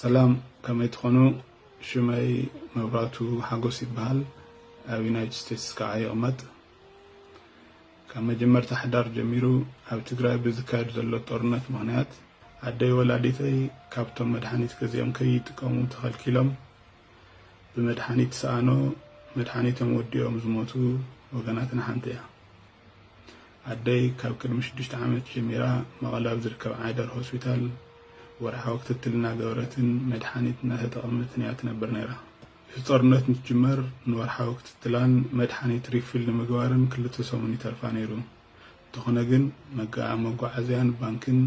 ሰላም ከመይ ትኾኑ ሽመይ መብራቱ ሓጎስ ይበሃል ኣብ ዩናይትድ ስቴትስ ከዓ ይቕመጥ ካብ መጀመርታ ሓዳር ጀሚሩ ኣብ ትግራይ ብዝካየድ ዘሎ ጦርነት ምኽንያት ኣደይ ወላዲተይ ካብቶም መድሓኒት ገዚኦም ከይጥቀሙ ተኸልኪሎም ብመድሓኒት ሰኣኖ መድሓኒቶም ወዲኦም ዝሞቱ ወገናትና ሓንቲ እያ። ኣደይ ካብ ቅድሚ ሽዱሽተ ዓመት ጀሚራ መቐለ ኣብ ዝርከብ ዓይደር ሆስፒታል ወርሓዊ ክትትል እናገበረትን መድሓኒት እናተጠቐመትን እያ ትነብር ነይራ። እቲ ጦርነት እንትጅመር ንወርሓዊ ክትትላን መድሓኒት ሪፊል ንምግባርን ክልተ ሰሙን ይተርፋ ነይሩ። እንተኾነ ግን መጋዓዝያን ባንክን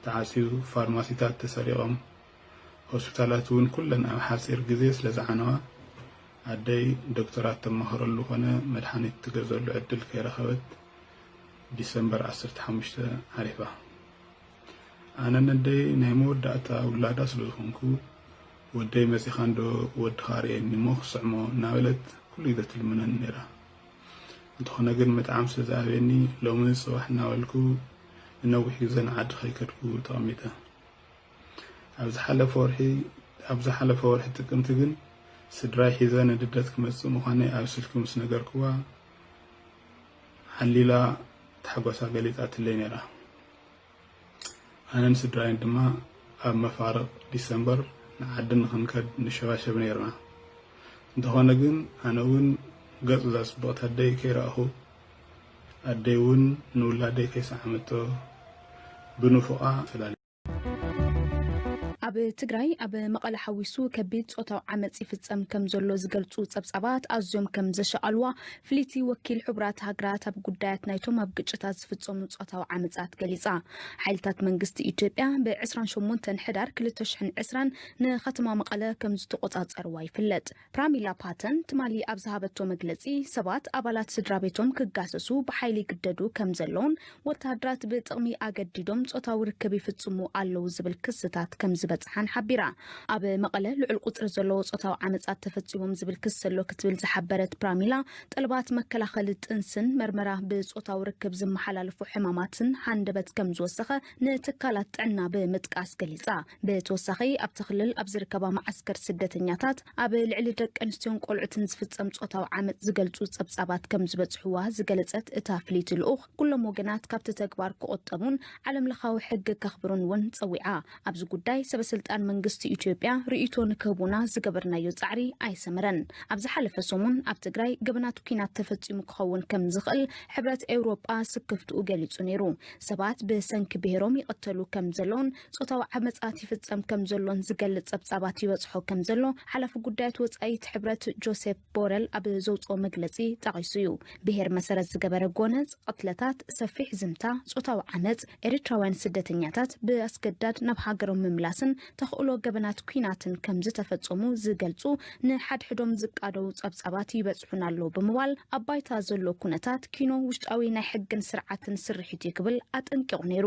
ተዓፅዩ ፋርማሲታት ተሰሪቖም ሆስፒታላት እውን ኩለን ኣብ ሓፂር ግዜ ስለዝዓነዋ ኣደይ ዶክተራት ተማኸረሉ ኮነ መድሓኒት ትገዘሉ ዕድል ከይረኸበት ዲሰምበር ዓሰርተ ሓሙሽተ ዓሪፋ። ኣነ ነደይ ናይ መወዳእታ ውላዳ ስለዝኾንኩ ወደይ መፂኻ እንዶ ወድኻ ርእየኒ እሞ ክስዕሞ እናበለት ኩሉ ግዜ ትልምነኒ ነይራ። እንተኾነ ግን ምጥዓም ስለዝኣብየኒ ሎሚ ፅባሕ እናበልኩ ንነዊሕ ግዜ ንዓዲ ከይከድኩ ተቐሚጠ። ኣብ ዝሓለፈ ወርሒ ጥቅምቲ ግን ስድራይ ሒዘ ንልደት ክመጽእ ምዃነይ ኣብ ስልኪ ምስ ነገርክዋ ዓሊላ ታሕጓሳ ገሊጻትለይ ነይራ። ኣነን ስድራይን ድማ ኣብ መፋርቕ ዲሰምበር ንዓዲ ንኽንከድ ንሸባሸብ ነይርና። እንተኾነ ግን ኣነ እውን ገጽ እዛ ጽብቕቲ ኣደይ ከይረኣኹ ኣደይ እውን ንውላደይ ከይሰዓመቶ ብንፉቓ ተፈላሊና። ኣብ ትግራይ ኣብ መቐለ ሓዊሱ ከቢድ ፆታዊ ዓመፅ ይፍፀም ከም ዘሎ ዝገልፁ ፀብፃባት ኣዝዮም ከም ዘሻቐልዋ ፍልይቲ ወኪል ሕቡራት ሃገራት ኣብ ጉዳያት ናይቶም ኣብ ግጭታት ዝፍፀሙ ፆታዊ ዓመፃት ገሊፃ። ሓይልታት መንግስቲ ኢትዮጵያ ብ28 ሕዳር 2020 ንከተማ መቐለ ከም ዝተቖፃፀርዋ ይፍለጥ። ፕራሚላ ፓተን ትማሊ ኣብ ዝሃበቶ መግለጺ ሰባት ኣባላት ስድራቤቶም ክጋሰሱ ብሓይሊ ይግደዱ ከም ዘለውን ወተሃደራት ብጥቕሚ ኣገዲዶም ጾታዊ ርክብ ይፍጽሙ ኣለዉ ዝብል ክስታት ከም ዝበጽሓን ሓቢራ። ኣብ መቐለ ልዑል ቁጽሪ ዘለዎ ጾታዊ ዓመጻት ተፈጺሞም ዝብል ክሲ ኣሎ ክትብል ዝሓበረት ፕራሚላ ጠለባት መከላኸሊ ጥንስን መርመራ ብጾታዊ ርክብ ዝመሓላለፉ ሕማማትን ሃንደበት ከም ዝወሰኸ ንትካላት ጥዕና ብምጥቃስ ገሊጻ። ብተወሳኺ ኣብቲ ክልል ኣብ ዝርከባ መዓስከር ስደተኛታት ኣብ ልዕሊ ደቂ ኣንስትዮን ቆልዑትን ዝፍፀም ፆታዊ ዓመፅ ዝገልፁ ፀብፃባት ከም ዝበፅሕዋ ዝገለፀት እታ ፍልይቲ ልኡኽ ኩሎም ወገናት ካብቲ ተግባር ክቑጠቡን ዓለም ለኻዊ ሕጊ ከኽብሩን እውን ፀዊዓ። ኣብዚ ጉዳይ ሰበስልጣን መንግስቲ ኢትዮጵያ ርእይቶ ንክህቡና ዝገበርናዮ ፃዕሪ ኣይሰመረን። ኣብ ዝሓለፈ ሰሙን ኣብ ትግራይ ገበናት ኲናት ተፈፂሙ ክኸውን ከም ዝኽእል ሕብረት ኤውሮጳ ስክፍትኡ ገሊፁ ነይሩ። ሰባት ብሰንኪ ብሄሮም ይቕተሉ ከም ዘለውን ጾታዊ ዓመጻት ይፍጸም ከም ዘሎን ዝገልጽ ጸብጻባት ይበጽሖ ከም ዘሎ ሓላፊ ጉዳያት ወጻኢት ሕብረት ጆሴፕ ቦረል ኣብ ዘውጽኦ መግለጺ ጠቒሱ እዩ። ብሄር መሰረት ዝገበረ ጎነጽ፣ ቕትለታት፣ ሰፊሕ ዝምታ፣ ጾታዊ ዓመጽ፣ ኤሪትራውያን ስደተኛታት ብኣስገዳድ ናብ ሃገሮም ምምላስን ተኽእሎ ገበናት ኩናትን ከም ዝተፈጸሙ ዝገልጹ ንሓድሕዶም ዝቃደዉ ጸብጻባት ይበጽሑና ኣለዉ ብምባል ኣብ ባይታ ዘሎ ኩነታት ኪኖ ውሽጣዊ ናይ ሕግን ስርዓትን ስርሒት እዩ ክብል ኣጠንቂቑ ነይሩ።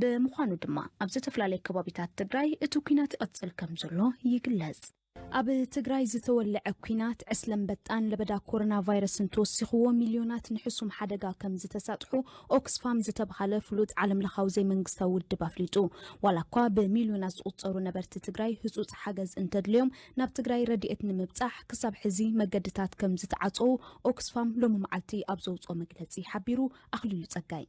ብምዃኑ ድማ ኣብ ዝተፈላለዩ ከባቢታት ትግራይ እቲ ኩናት ይቕፅል ከም ዘሎ ይግለፅ። ኣብ ትግራይ ዝተወልዐ ኩናት ዕስለ ኣንበጣን ለበዳ ኮሮና ቫይረስን ተወሲኽዎ ሚልዮናት ንሕሱም ሓደጋ ከም ዝተሳጥሑ ኦክስፋም ዝተብሃለ ፍሉጥ ዓለም ለኻዊ ዘይመንግስታዊ ውድብ ኣፍሊጡ። ዋላ እኳ ብሚልዮናት ዝቑፀሩ ነበርቲ ትግራይ ህፁፅ ሓገዝ እንተድልዮም ናብ ትግራይ ረድኤት ንምብፃሕ ክሳብ ሕዚ መገድታት ከም ዝተዓፀዉ ኦክስፋም ሎሚ መዓልቲ ኣብ ዘውፅኦ መግለፂ ሓቢሩ። ኣኽሊሉ ፀጋይ።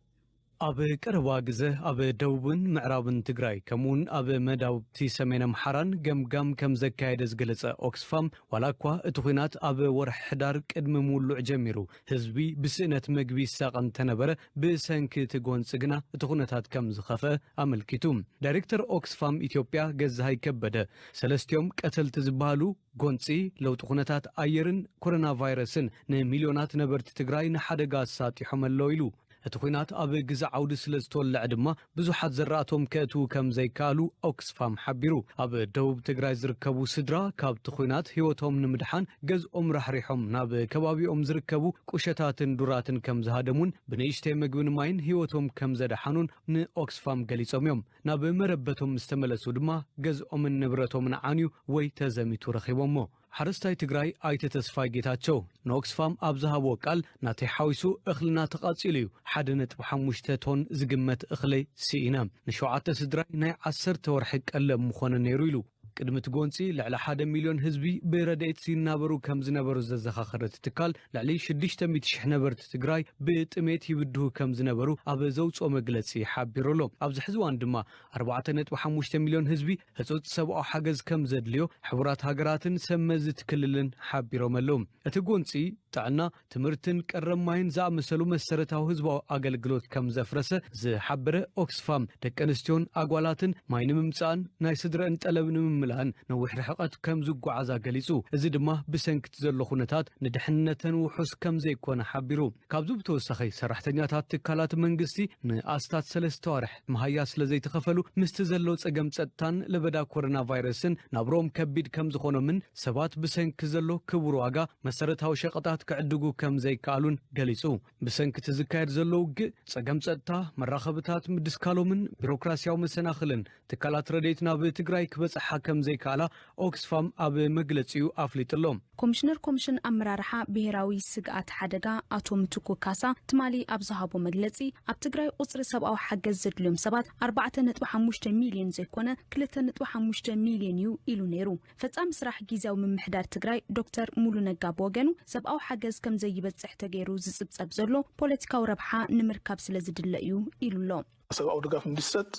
ኣብ ቀረባ ግዘ ኣብ ደቡብን ምዕራብን ትግራይ ከምኡ እውን ኣብ መዳውብቲ ሰሜን ኣምሓራን ገምጋም ከምዘካየደ ዝገለፀ ኦክስፋም ዋላ እኳ እቲ ኹናት ኣብ ወርሒ ሕዳር ቅድሚ ምውሉዕ ጀሚሩ ህዝቢ ብስእነት መግቢ ይሳቐ እንተነበረ ብሰንኪ እቲ ጎንፂ ግና እቲ ኩነታት ከምዝኸፍአ ኣመልኪቱ። ዳይሬክተር ኦክስፋም ኢትዮጵያ ገዛሃይ ከበደ ሰለስቲኦም ቀተልቲ ዝበሃሉ ጎንፂ ለውጢ ኩነታት ኣየርን ኮረና ቫይረስን ንሚልዮናት ነበርቲ ትግራይ ንሓደጋ ኣሳጢሖም ኣለው ኢሉ። እቲ ኲናት ኣብ ግዘ ዓውዲ ስለዝተወለዐ ድማ ብዙሓት ዘራእቶም ከእትዉ ከምዘይከኣሉ ኦክስፋም ሓቢሩ። ኣብ ደቡብ ትግራይ ዝርከቡ ስድራ ካብቲ ኲናት ህይወቶም ንምድሓን ገዝኦም ራሕሪሖም ናብ ከባቢኦም ዝርከቡ ቁሸታትን ዱራትን ከምዝሃደሙን ብንእሽተይ መግብን ማይን ህይወቶም ከምዘድሓኑን ንኦክስፋም ገሊፆም እዮም። ናብ መረበቶም ምስተመለሱ ድማ ገዝኦምን ንብረቶምን ዓንዩ ወይ ተዘሚቱ ረኺቦሞ። ሓረስታይ ትግራይ ኣይተ ተስፋይ ጌታቸው ንኦክስፋም ኣብ ዝሃብዎ ቃል ናተይ ሓዊሱ እኽልና ተቓፂሉ እዩ። ሓደ ነጥቢ ሓሙሽተ ቶን ዝግመት እኽሊ ስኢነ። ንሸውዓተ ስድራይ ናይ ዓሰርተ ወርሒ ቀለብ ምኾነ ነይሩ ኢሉ። ቅድሚ እቲ ጎንፂ ልዕሊ ሓደ ሚልዮን ህዝቢ ብረድኤት ይናበሩ ከምዝነበሩ ዘዘኻኸረ እቲ ትካል ልዕሊ ሽዱሽተ ሚእቲ ሽሕ ነበርቲ ትግራይ ብጥሜት ይብድሁ ከምዝነበሩ ኣብ ዘውፅኦ መግለፂ ሓቢሩ ኣሎ። ኣብዚ ሕዚ እዋን ድማ ኣርባዕተ ነጥቢ ሓሙሽተ ሚልዮን ህዝቢ ህጹጽ ሰብኣዊ ሓገዝ ከም ዘድልዮ ሕቡራት ሃገራትን ሰብ መዚ እቲ ክልልን ሓቢሮም ኣለዉ። እቲ ጎንጺ፣ ጥዕና፣ ትምህርትን ቀረብ ማይን ዝኣመሰሉ መሰረታዊ ህዝባዊ ኣገልግሎት ከም ዘፍረሰ ዝሓበረ ኦክስፋም፣ ደቂ ኣንስትዮን ኣጓላትን ማይ ንምምጻእን ናይ ስድረእን ጠለብ ንምምላእን ነዊሕ ርሕቐት ከም ዝጓዓዛ ገሊጹ፣ እዚ ድማ ብሰንኪ እቲ ዘሎ ኩነታት ንድሕንነተን ውሑስ ከም ዘይኮነ ሓቢሩ። ካብዚ ብተወሳኺ፣ ሰራሕተኛታት ትካላት መንግስቲ ንኣስታት ሰለስተ ኣዋርሕ፣ መሃያ ስለ ዘይተኸፈሉ ምስቲ ዘሎ ጸገም ጸጥታን ለበዳ ኮረና ቫይረስን ናብርኦም ከቢድ ከም ዝኾኖምን ሰባት ብሰንኪ ዘሎ ክቡር ዋጋ መሰረታዊ ሸቐጣት ክዕድጉ ከም ዘይከኣሉን ገሊጹ። ብሰንኪ እቲ ዝካየድ ዘሎ ውግእ፣ ጸገም ጸጥታ፣ መራኸብታት ምድስካሎምን ቢሮክራስያዊ መሰናኽልን ትካላት ረድኤት ናብ ትግራይ ክበጽሓ ከም ዘይከኣላ ኦክስፋም ኣብ መግለጺኡ ኣፍሊጡ'ሎ። ኮሚሽነር ኮሚሽን ኣመራርሓ ብሄራዊ ስግኣት ሓደጋ ኣቶ ምትኩ ካሳ ትማሊ ኣብ ዝሃቦ መግለጺ፣ ኣብ ትግራይ ቁጽሪ ሰብኣዊ ሓገዝ ዘድልዮም ሰባት ኣርባዕተ ነጥቢ ሓሙሽተ ሚልዮን ዘይኮነ ክልተ ነጥቢ ሓሙሽተ ሚልዮን እዩ ኢሉ ነይሩ። ፈጻሚ ስራሕ ጊዝያዊ ምምሕዳር ትግራይ ዶክተር ሙሉ ነጋ ብወገኑ ሰብኣዊ ሓገዝ ከምዘይበጽሕ ተገይሩ ዝጽብጸብ ዘሎ ፖለቲካዊ ረብሓ ንምርካብ ስለዝድለ እዩ ኢሉ'ሎ። ሰብኣዊ ድጋፍ እንዲሰጥ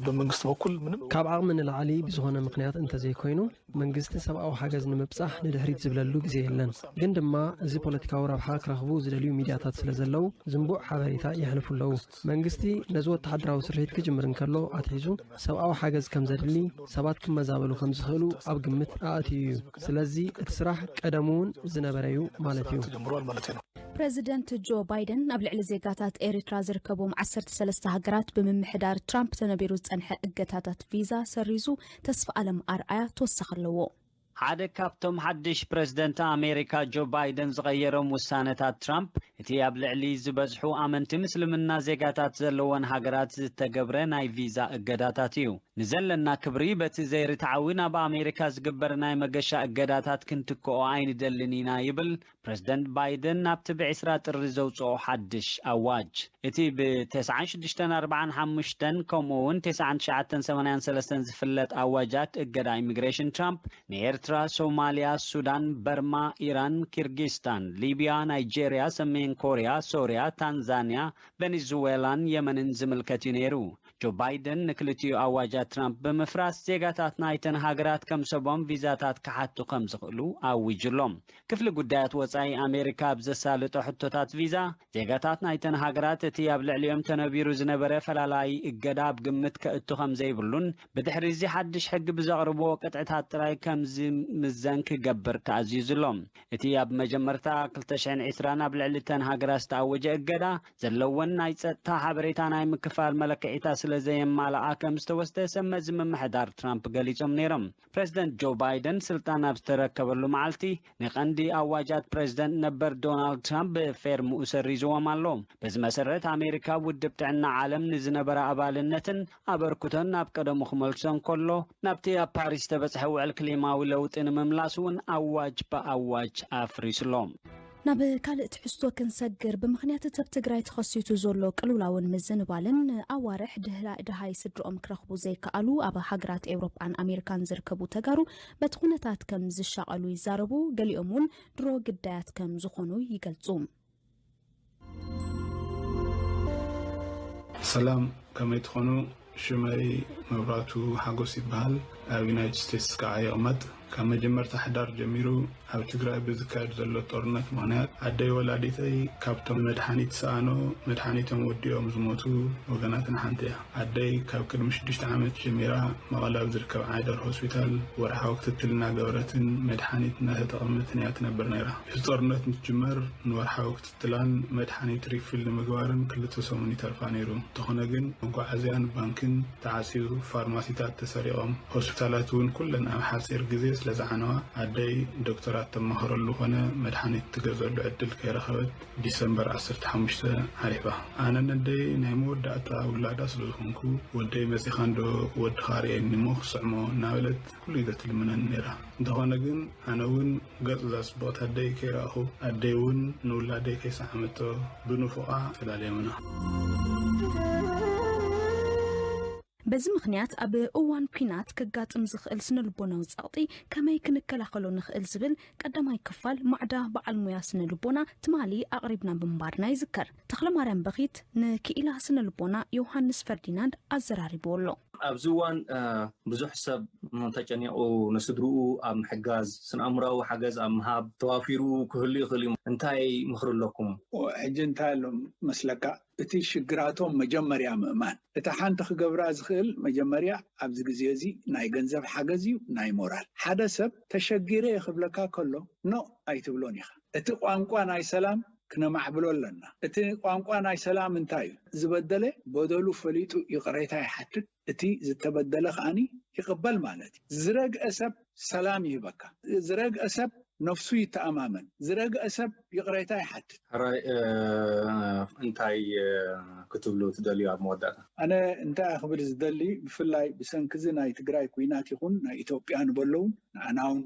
ብመንግስቲ በኩል ምንም ካብ ዓቕሚ ንላዕሊ ብዝኾነ ምኽንያት እንተዘይኮይኑ መንግስቲ ሰብኣዊ ሓገዝ ንምብፃሕ ንድሕሪት ዝብለሉ ግዜ የለን። ግን ድማ እዚ ፖለቲካዊ ረብሓ ክረኽቡ ዝደልዩ ሚድያታት ስለዘለው ዝንቡዕ ሓበሬታ የሕልፉ ኣለው። መንግስቲ ነዚ ወተሃደራዊ ስርሒት ክጅምር እንከሎ ኣትሒዙ ሰብኣዊ ሓገዝ ከምዘድሊ ሰባት ክመዛበሉ ከምዝኽእሉ ኣብ ግምት ኣእትዩ እዩ። ስለዚ እቲ ስራሕ ቀደሙውን ዝነበረዩ ማለትዩ። ፕረዚደንት ጆ ባይደን ኣብ ልዕሊ ዜጋታት ኤሪትራ ዝርከቦም ዓሰርተ ሰለስተ ሃገራት ብምምሕዳር ትራምፕ ተነቢሩ ዝጸንሐ እገታታት ቪዛ ሰሪዙ፣ ተስፋኣለም ኣርኣያ ተወሳኺ ኣለዎ። ሓደ ካብቶም ሓድሽ ፕረዚደንት ኣሜሪካ ጆ ባይደን ዝቐየሮም ውሳነታት ትራምፕ፣ እቲ ኣብ ልዕሊ ዝበዝሑ ኣመንቲ ምስልምና ዜጋታት ዘለወን ሃገራት ዝተገብረ ናይ ቪዛ እገዳታት እዩ። ንዘለና ክብሪ በቲ ዘይርትዓዊ ናብ ኣሜሪካ ዝግበር ናይ መገሻ እገዳታት ክንትክኦ ኣይንደልን ኢና ይብል ፕረዚደንት ባይደን ኣብቲ ብ ዕስራ ጥሪ ዘውጽኦ ሓድሽ ኣዋጅ፣ እቲ ብ ተስዓን ሽዱሽተን ኣርብዓን ሓሙሽተን ከምኡ'ውን ተስዓን ትሽዓተን ሰማንያን ሰለስተን ዝፍለጥ ኣዋጃት እገዳ ኢሚግሬሽን ትራምፕ ንኤርትራ፣ ሶማልያ፣ ሱዳን፣ በርማ፣ ኢራን፣ ኪርጊስታን፣ ሊብያ፣ ናይጀርያ፣ ሰሜን ኮርያ፣ ሶርያ፣ ታንዛንያ፣ ቨኒዝወላን የመንን ዝምልከት'ዩ ነይሩ። ጆ ባይደን ንክልቲኡ ኣዋጃት ትራምፕ ብምፍራስ ዜጋታት ናይተን ሃገራት ከም ሰቦም ቪዛታት ክሓቱ ከም ዝኽእሉ ኣዊጁ ኣሎ። ክፍሊ ጉዳያት ወጻኢ ኣሜሪካ ኣብ ዘሳልጦ ሕቶታት ቪዛ ዜጋታት ናይተን ሃገራት እቲ ኣብ ልዕሊኦም ተነቢሩ ዝነበረ ፈላላዪ እገዳ ኣብ ግምት ከእቱ ከም ዘይብሉን ብድሕሪ እዚ ሓድሽ ሕጊ ብዘቕርብዎ ቅጥዕታት ጥራይ ከም ዝምዘን ክገብር ተኣዚዙ ኣሎ። እቲ ኣብ መጀመርታ ክልተ ሽሕን ዕስራን ኣብ ልዕሊ እተን ሃገራት ዝተኣወጀ እገዳ ዘለወን ናይ ጸጥታ ሓበሬታ ናይ ምክፋል መለክዒታት ስለ ዘየማልኣ ከም ዝተወስደ ሰብ መዚ ምምሕዳር ትራምፕ ገሊጾም ነይሮም። ፕረዚደንት ጆ ባይደን ስልጣን ኣብ ዝተረከበሉ መዓልቲ፣ ንቀንዲ ኣዋጃት ፕረዚደንት ነበር ዶናልድ ትራምፕ ብፌርምኡ ሰሪዝዎም ኣሎ። በዚ መሰረት ኣሜሪካ ኣብ ውድብ ጥዕና ዓለም ንዝነበራ ኣባልነትን ኣበርክቶን ናብ ቀደሙ ክመልሶ እንከሎ፣ ናብቲ ኣብ ፓሪስ ዝተበጽሐ ውዕል ክሊማዊ ለውጢ ንምምላስ እውን ኣዋጅ ብኣዋጅ ኣፍሪሱ ኣሎ። ናብ ካልእ ትሕዝቶ ክንሰግር፣ ብምኽንያት እቲኣብ ትግራይ ተኸሲቱ ዘሎ ቅልውላውን ምዝንባልን ንኣዋርሕ ድህሪ ደሃይ ስድርኦም ክረኽቡ ዘይከኣሉ ኣብ ሃገራት ኤውሮጳን ኣሜሪካን ዝርከቡ ተጋሩ በቲ ኩነታት ከም ዝሻቐሉ ይዛረቡ፣ ገሊኦም እውን ድሮ ግዳያት ከም ዝኾኑ ይገልጹ። ሰላም ከመይ ትኾኑ ሽመይ መብራቱ ሓጎስ ይበሃል ኣብ ዩናይትድ ስቴትስ ከዓ ይቕመጥ ካብ መጀመርታ ሕዳር ጀሚሩ ኣብ ትግራይ ብዝካየድ ዘሎ ጦርነት ምኽንያት ኣደይ ወላዲተይ ካብቶም መድሓኒት ሰኣኖ መድሓኒቶም ወዲኦም ዝሞቱ ወገናትና ሓንቲ እያ ኣደይ ካብ ቅድሚ ሽዱሽተ ዓመት ጀሚራ መቐለ ኣብ ዝርከብ ዓይደር ሆስፒታል ወርሓዊ ክትትል እናገበረትን መድሓኒት እናተጠቐመትን እያ ትነብር ነይራ እቲ ጦርነት ምስ ጅመር ንወርሓዊ ክትትላን መድሓኒት ሪፊል ንምግባርን ክልተ ሰሙን ይተርፋ ነይሩ። እንተኾነ ግን መጓዓዝያን ባንክን ተዓጽዩ፣ ፋርማሲታት ተሰሪቖም፣ ሆስፒታላት እውን ኩለን ኣብ ሓጺር ግዜ ስለዝዓነዋ ኣደይ ዶክተራት ተማኸረሉ ኮነ መድሓኒት ትገዝኣሉ ዕድል ከይረኸበት ዲሰምበር ዓሰርተ ሓሙሽተ ሓሊፋ። ኣነ ነደይ ናይ መወዳእታ ውላዳ ስለዝኾንኩ ወደይ መጺኻንዶ ወድኻ ኣርእየኒ'ሞ ክስዕሞ እናበለት ኩሉ ግዘ ትልምነኒ ነይራ። እንተኾነ ግን ኣነ እውን ገጽ እዛ ጽብቕቲ ኣደይ ከይረኣኹ፣ ኣደይ እውን ንውላደይ ከይሰዓመቶ ብንፉቓ ተዳልዮምና። በዚ ምኽንያት ኣብ እዋን ኲናት ከጋጥም ዝኽእል ስነ-ልቦናዊ ጸቕጢ ከመይ ክንከላኸሎ ንኽእል ዝብል ቀዳማይ ክፋል ማዕዳ በዓል ሞያ ስነ-ልቦና ትማሊ ኣቕሪብና ምንባርና ይዝከር። ተኽለማርያም በኺት ንክኢላ ስነ ልቦና ዮውሃንስ ፈርዲናንድ ኣዘራሪብዎ ኣሎ። ኣብዚ እዋን ብዙሕ ሰብ ተጨኒቑ ንስድርኡ ኣብ ምሕጋዝ፣ ስነ-ኣእምሮኣዊ ሓገዝ ኣብ ምሃብ ተዋፊሩ ክህሉ ይኽእል እዩ። እንታይ ምኽሪ ኣለኩም? ሕጂ እንታይ ኣሎ መስለካ እቲ ሽግራቶም መጀመርያ ምእማን እታ ሓንቲ ክገብራ ዝኽእል መጀመርያ ኣብዚ ግዜ እዚ ናይ ገንዘብ ሓገዝ እዩ ናይ ሞራል ሓደ ሰብ ተሸጊረ እየ ክብለካ ከሎ ኖእ ኣይትብሎን ኢኻ። እቲ ቋንቋ ናይ ሰላም ክነማዕብሎ ኣለና። እቲ ቋንቋ ናይ ሰላም እንታይ እዩ? ዝበደለ በደሉ ፈሊጡ ይቕሬታ ይሓትት፣ እቲ ዝተበደለ ከኣ ይቕበል ማለት እዩ። ዝረግአ ሰብ ሰላም ይህበካ። ዝረግአ ሰብ ነፍሱ ይተኣማመን። ዝረግአ ሰብ ይቕሬታ ይሓትት። ሕራይ እንታይ ክትብሉ ትደልዩ ኣብ መወዳእታ? ኣነ እንታይ እየ ክብል ዝደሊ ብፍላይ ብሰንኪ እዚ ናይ ትግራይ ኩናት ይኹን ናይ ኢትዮጵያ ንበሎ ውን ንዓና ውን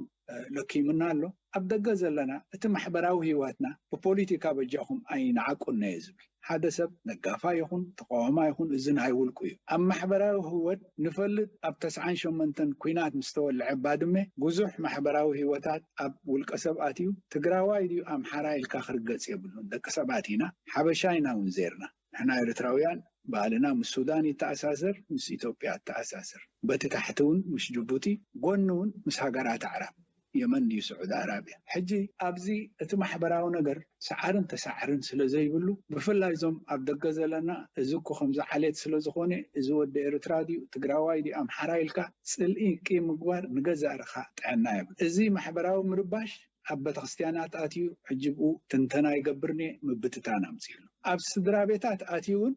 ለኪሙና ኣሎ ኣብ ደገ ዘለና እቲ ማሕበራዊ ሂዋትና ብፖሊቲካ በጃኩም ኣይንዓቁና እየ ዝብል ሓደ ሰብ ነጋፋይ ይኩን ተቃዋማይ ይኩን እዚ ናይ ውልቁ እዩ ኣብ ማሕበራዊ ሂወት ንፈልጥ ኣብ ተስዓን ሸሞንተን ኩናት ምስ ተወልዐ ባድመ ቡዙሕ ማሕበራዊ ሂወታት ኣብ ውልቀ ሰብ ኣትዩ ትግራዋይ ድዩ ኣምሓራይ ኢልካ ክርገፅ የብሉን ደቂ ሰባት ኢና ሓበሻ ኢና ውን ዜርና ንሕና ኤርትራውያን ባህልና ምስ ሱዳን ይተኣሳሰር ምስ ኢትዮጵያ ይተኣሳሰር በቲ ታሕቲ ውን ምስ ጁቡቲ ጎኒ ውን ምስ ሃገራት ኣዕራብ የመን ድዩ ስዑዲ ኣራብያ ሕጂ ኣብዚ እቲ ማሕበራዊ ነገር ሰዓርን ተሳዕርን ስለ ዘይብሉ ብፍላይ እዞም ኣብ ደገ ዘለና እዚ እኮ ከምዚ ዓሌት ስለ ዝኾነ እዚ ወዲ ኤርትራ ድዩ ትግራዋይ ድዩ ኣምሓራይ ኢልካ ጽልኢ ቂም ምግባር ንገዛእ ርካ ጥዕና የብሉን እዚ ማሕበራዊ ምርባሽ ኣብ በተክርስቲያናት ኣትዩ ሕጂብኡ ትንተና ይገብርኔ ምብትታን ኣምጺእሎ ኣብ ስድራቤታት ኣትዩውን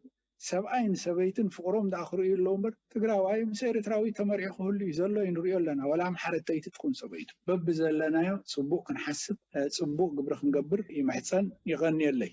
ሰብኣይን ሰበይትን ፍቅሮም ድኣ ክርእዩ ኣለዉ እምበር ትግራዋይ ምስ ኤሪትራዊት ተመርዒ ክህሉ እዩ ዘሎ እዩ ንርእዮ ኣለና ወላ ኣምሓረተይቲ ትኩን ሰበይቱ በብዘለናዮ ጽቡቅ ክንሓስብ ጽቡቅ ግብሪ ክንገብር ይምሕጸን ይቀንየለይ።